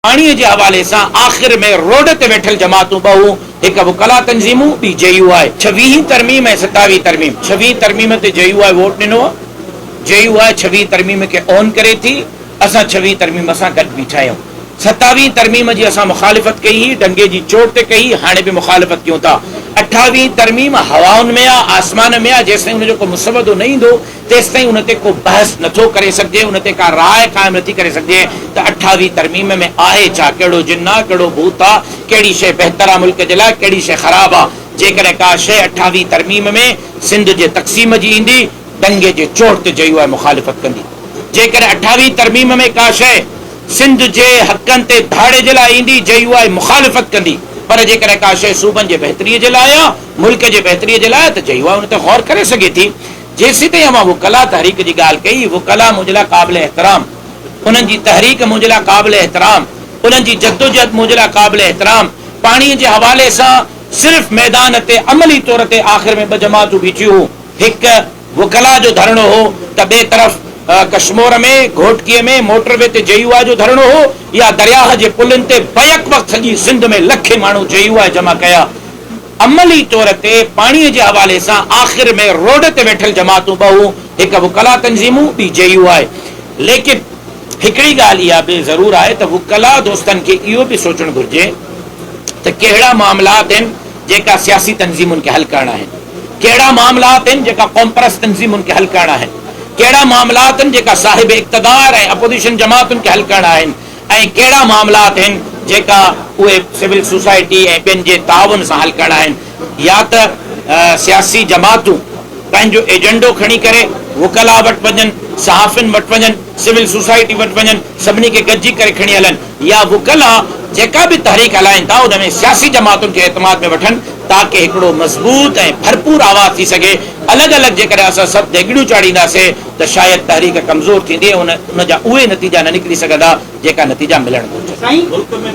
پاڻي جي حوالي سان آخر ۾ روڊ تي ويٺل جماعتون ٻه هون، هڪ وڪلا تنظيمون، ٻي جي يو آء. ڇويهين ترميم ۽ ستاويهين ترميم، ڇويهين ترميم تي جي يو آء ووٽ ڏنو، جي يو آء ڇويهين ترميم کي اون ڪري ٿي، اسان ڇويهين ترميم سان گڏ بيٺا آهيون، ستاويهين ترميم جي اسان مخالفت ڪئي هئي، ڊنگي جي چوٽ تي ڪئي هئي، هاڻي به مخالفت ڪيون ٿا، اٺاويهين ترميم هوائن ۾ آ، آسمان ۾ آ، جيستائين ان جو ڪو مسودو نه ايندو، تيستائين ان تي ڪو بحث نه ٿو ڪري سگهجي، ان تي ڪا راء قائم نه ٿي ڪري سگهجي ته اٺاويهه ترميم ۾ آهي ڇا، ڪهڙو جن آ، ڪهڙو ڀوت آ، ڪهڙي شيء بهتر آ ملڪ جي لاء، ڪهڙي شيء خراب آ. جيڪڏهن ڪا شيء اٺاويهه ترميم ۾ سنڌ جي تقسيم جي ايندي، ڏنگي جي چوڙ تي جيو آء مخالفت ڪندي. جيڪڏهن اٺاويهه ترميم ۾ ڪا شيء سنڌ جي حقن تي ڌاڙي جي لاء ايندي، جيو آء مخالفت ڪندي، پر جيڪڏهن ڪا شيء صوبن جي بهتريء جي لاء آ، ملڪ جي بهتريء جي لاء آ ته جيو آء ان تي غور ڪري سگهي ٿي. جيسيتائين اوهان وڪلا تحريڪ جي ڳالهه ڪئي، وڪلا منهنجي لاء قابل احترام، انهن جي تحريڪ منهنجي لاء قابل احترام، انهن جي جدوجهد منهنجي لاء قابل احترام، پاڻي جي حوالي سان صرف ميدان تي عملي طور تي آخر ۾ ٻه جماعتون بيٺيون هو، هڪ وڪلا جو ڌرڻو هو ته ٻئي طرف ڪشمور ۾ گهوٽڪي ۾ موٽر وي تي جي يو آء جو ڌرڻو هو يا درياهه جي پلن تي بيڪ وقت سڄي سنڌ ۾ لکين ماڻهو جي يو آء جمع ڪيا، عملي طور تي پاڻي جي حوالي سان آخر ۾ روڊ تي ويٺل جماعتون ٻه هون، هڪ وڪلا تنظيمون ٻي جي يو آء. ليڪن هڪڙي ڳالهه اها به ضرور آهي ته وڪلا دوستن کي اهو به سوچڻ گهرجي ته ڪهڙا معاملا آهن جيڪا سياسي تنظيمن کي حل ڪرڻا آهن، ڪهڙا معاملا آهن جيڪا قومپرست تنظيمن کي حل ڪرڻا آهن، ڪهڙا معاملا آهن جيڪا صاحب اقتدار ۽ اپوزيشن جماعتن کي حل ڪرڻا آهن ۽ ڪهڙا معاملا آهن جيڪا اهي سول سوسائٽي ۽ ٻين جي تعاون سان حل ڪرڻا آهن يا ته سياسي جماعتون پنهنجو ايجنڊو کڻي ڪري وڪلا وٽ وڃن، صحافين وٽ وڃن، سول سوسائٽي وٽ وڃن، سڀني کي گڏجي ڪري کڻي هلن يا وڪلا جيڪا به تحريڪ هلائين ٿا ان ۾ سياسي جماعتن کي اعتماد ۾ وٺن تاڪه هڪڙو مضبوط ۽ ڀرپور آواز ٿي سگهي الڳ الڳ جيڪڏهن اسان سڀ ديڳڙيون چاڙهينداسين ته شايد تحريڪ ڪمزور ٿيندي ۽ ان جا اهي نتيجا نه نڪري سگهندا جيڪا نتيجا ملڻ گهرجن.